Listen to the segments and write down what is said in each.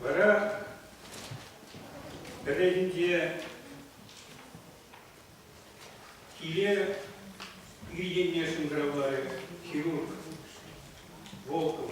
Вара пӗррехинче киле ир енне шӑнкӑравларӗ хирург Волков.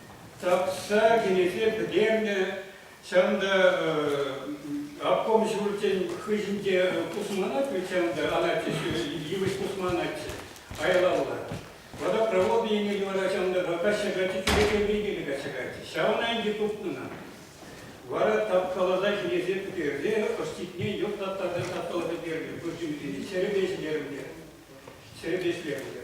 Тапса кӗнеке пӗтернӗ. Ҫав та обком ҫурчӗн хыҫӗнче пусманать ведь ҫав та анатчӗ, йывӑҫ пусманатчӗ айлалла. Вара проводный енне вара ҫав та качча каччи кӗрекепе киле качча каччи. Ҫавна ӗнтӗ тупнӑна. Вара тапкаласа кӗнеке пӗтерсе ӑститне йӑтлаттарса тапкала пӗтернӗ. Пырчимсене ҫӗрӗпе ҫӗтернӗ. Ҫӗрӗпе ӗҫлерӗ.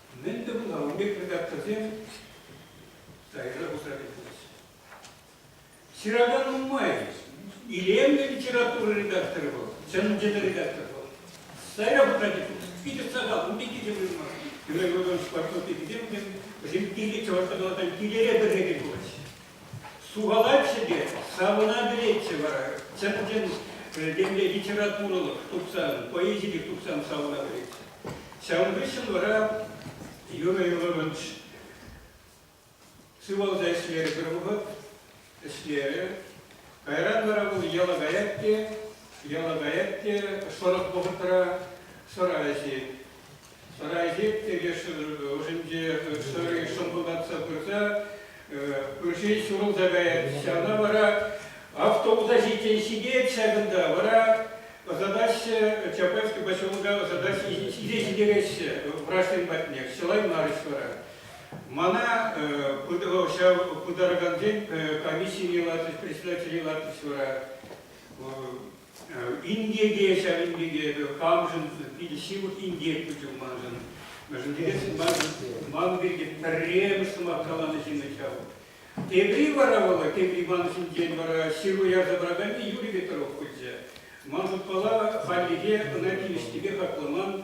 Мӗн те пулсан ун пек редакторсем сайра пусса кӗтмеҫҫӗ. Ҫыракан нумай. Илемлӗ литература редакторӗ вӑл, чӑн-чӑн редактор вӑл. Сайра пусса кӗтмеҫҫӗ. Питӗ сахал, ун пекки те пулман. Геннадий Григорьевич спортсмен пеккисем, вӗсем киле, чӑваш тӑкалакан килере пӗрекен пулаҫҫӗ. Сухалатчӗ те, савӑна-вӗретчӗ вара чӑн-чӑн темле литературӑлӑх тухсан, поэзи пек тухсан савӑна вӗретчӗ. Ҫавӑн хыҫҫӑн вара Юрий Львович сывалса ӗҫлерӗ пӗр вӑхӑт, ӗҫлерӗ. Кайран вара вӑл яла каять те, яла каять те, шӑрӑх вӑхӑтра шӑра ӗҫет. Сарайсек теке шӑтӑркӑ ӑшӗнче сарай шӑмпӑлтатса пырса пырши ҫурӑлса каять. Ҫавна вара автобуса ҫитсен ҫитет ҫакӑнта, вара ӑсатаҫҫӗ, Чапаевский поселока ӑсатаҫҫӗ, ҫисе ҫитереҫҫӗ врачсем патне. Чылаймарӗҫ вара. Мана ҫав пытаракансен комиссине лартӗҫ, председателе лартӗҫ вара. Инкеке ҫавӑн пек эпӗ камшӑн питӗ ҫывӑх инкек пулчӗ маншӑн. Мӗншӗн тесен ман пирки пӗрремӗш сӑмах каланӑ ҫыннӑн ҫав. Тепри вара вӑл, тепри ман ҫинчен вара ҫыру ярса параканни Юрий Петров пулчӗ. Ман шутпала, хальлӗхе ӑна тивӗҫлипе хакламан,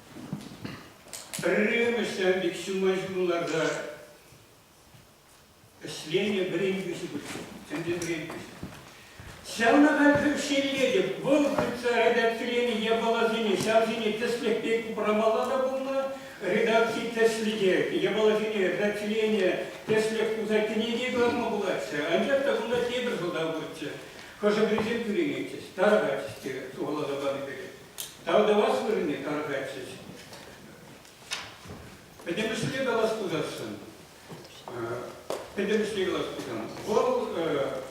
Пӗрремӗш ҫав пек ҫумма ҫумларта ӗҫленӗ вӗрентӳҫӗ пырччӗ, ӗнтӗ вӗрентӳҫӗ. Ҫавнапа шеллетӗп, вӑл хытса редакциленӗ япаласене ҫавсене тӗслӗх пек упрамалла та пулнӑ, редакци тӗслӗхе, япаласене редакциленӗ тӗслӗх туса кӗнеке кӑларма пулатчӗ, анчах та кунта тепӗр сӑлтав пурччӗ. Хӑшӗ-пӗрисем кӳренетчӗҫ, тарӑхатчӗҫ те сухаласа панӑ пекех. Тав тӑвас вырӑнне тарӑхатчӗҫ. Пӗтӗмӗшле калас пуласшӑн, пӗтӗмӗшле калас пулсан, вӑл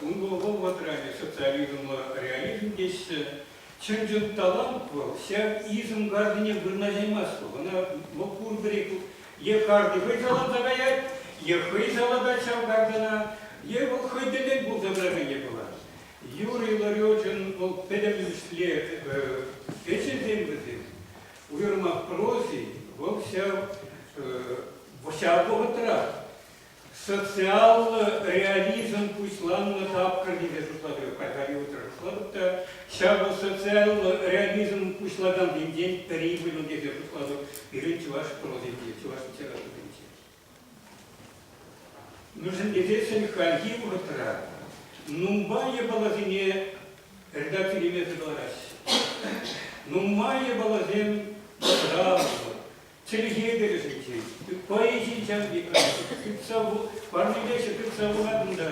ун вӑл вӑтра социализмла реализм теҫҫӗ. Чӑн-чӑн талант вӑл, ҫав изм гарнине вырнаҫаймасть вӑл. Ӑна вӑл пурпӗрех е карти хӑй саланса каять, е хӑй салатать ҫав картана, е вӑл хӑй тӗллӗн пулса тӑракан е пулас. Юрий Ларечӑн вӑл пӗтӗмӗшле ӗҫӗсем вӗсем. Уйрӑмах прози вӑл ҫав вӑхӑтра социаллӑ реализм пуҫланнӑ тапхӑр тесе шутлатӑп. Кайпари утӑрӑшлӑх та ҫавӑ социаллӑ реализм пуҫлакансенчен пӗри пулин тесе шутлатӑп пирӗн чӑваш прозинче, чӑваш литературинче. Мӗншӗн тесессӗн хальхи вӑхӑтра нумай япаласене редакцийлемесӗр кӑлараҫҫӗ. Нумай япаласем сразу, чӗлхе тӗлӗшӗнчен, поэзи ҫаври тытса парнелеҫҫӗ, тытса пулатӑн та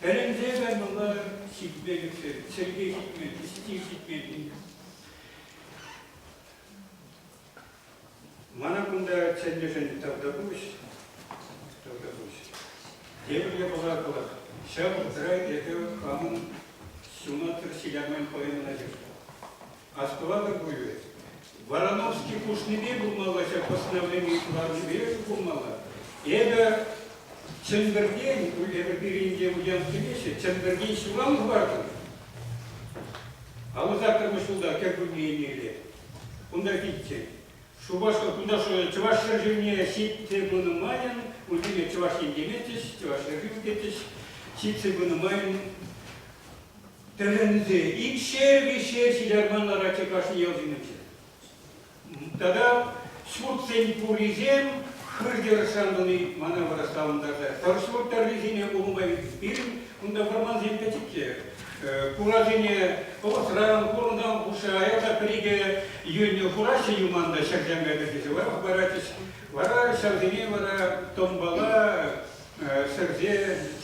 тӗлӗнсе кай мӑнлатӑр ҫитме ӳксен, чӗлхе ҫитмен, стиль ҫитмен. Мана кунта чӗннӗшӗн тавтапуҫ, тавтапуҫ. Тепӗр япала калар, ҫав вӑхӑтра эпӗ хамӑн ҫунаттӑр ҫиляман поэмӑна ҫыртӑм. Астӑватӑр пулӗ, Вороновский хушнипе пулмалла ҫав постановлени кӑларнипе пулмалла. Эпӗ Чӗмпӗртен, эпӗ пирӗнте уянккелеҫҫӗ, Чӗмпӗртен ҫуран хӑвартӑм. Аллӑ саккӑрмӗш ҫулта кӗркунне еннелле Кунта килччен. Шупашкар туташӗ чӑваш ҫӗршывне ҫитсе пынӑ майӑн унсене чӑваш ен теметчӗҫ, чӑваш ҫӗршыв тетчӗҫ. Ҫитсе пынӑ майӑн тӗлӗнсе икшер виҫшер ҫитарман ларатчӗ кашни ял ҫумӗнче. Тата ҫуртсен пуррисем хыр-тӗр шантӑни мана вырӑс савӑнтарса. Пӗр ҫурт тӑррисене улӑма пирӗн Кунта вӑрмансем пӗчӗкки. Хуражине Пӑвӑс район хурӑнтан хушса аякка пӗр-икӗ йӳнӗ хураҫҫӗ юманта ҫӗртенкӗ кӗрсе варах паратчӗҫ. Вара ҫавсене вара томбала сӗрсе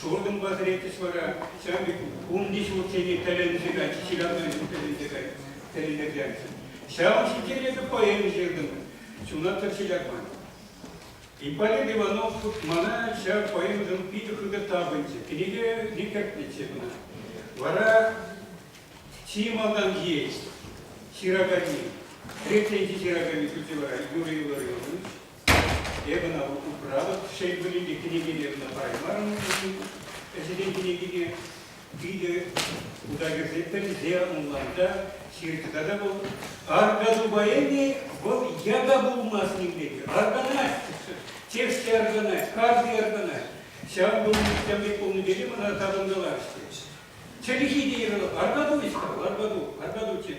шуртӑмпа сӗретчӗҫ вара. Ҫавӑн пек унти ҫуртсене тӗлӗнсе кайчӗҫ, ҫилявсенчен тӗлӗнсе тӗлӗнтерсе кайчӗҫ. Ҫавӑн ҫинчен эпӗ поэми ҫыртӑм, ҫунаттӑр ҫиляван. Ипполит Иванов мана ҫав поэмӑшӑн питӗ хытӑ тапӑнчӗ. Кӗнеке не кӗртнӗччӗ кӑна. Вара чи малтанхи ҫыраканни, хресченҫи ҫыраканни шучӗ вара Юрий Илларионович. Эпӗ ӑна управ, шел пулин те, кӗнеке те ӑна параймарӑм уншӑн ӗҫӗсен кӗнекине. Питӗ хута кӗрсе пӗлсе ӑнланса ҫырчӗ тата вӑл, Арка тупа эпӗ, вӑл яка пулмасть ним пекки. Арканать, чешсе арканать, карси арканать. Ҫав пулнӑ, ҫав пек пулнӑ тени мана тапӑнкаларӗ. Чӗлхи те йӑрӑлып, арпа ту, Витька, арпа ту, арпа ту, тен.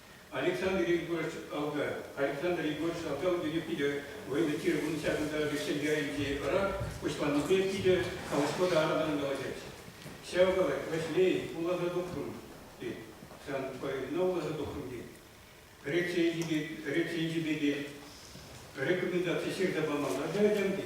Александр Егорович Алгаев. Александр Егорович Алгаев пирки питӗ военный тир вун ҫакӑнта Шенкеринчи ӑра куҫланипе питӗ калаҫма та аратан калаҫать. Ҫав калать, Ваҫлей, уласа тухрӑм, тет. Сан поэмна уласа тухрӑм, тет. Рецензи пек, рецензи пекех рекомендаци ҫырса памалла каятам, тет.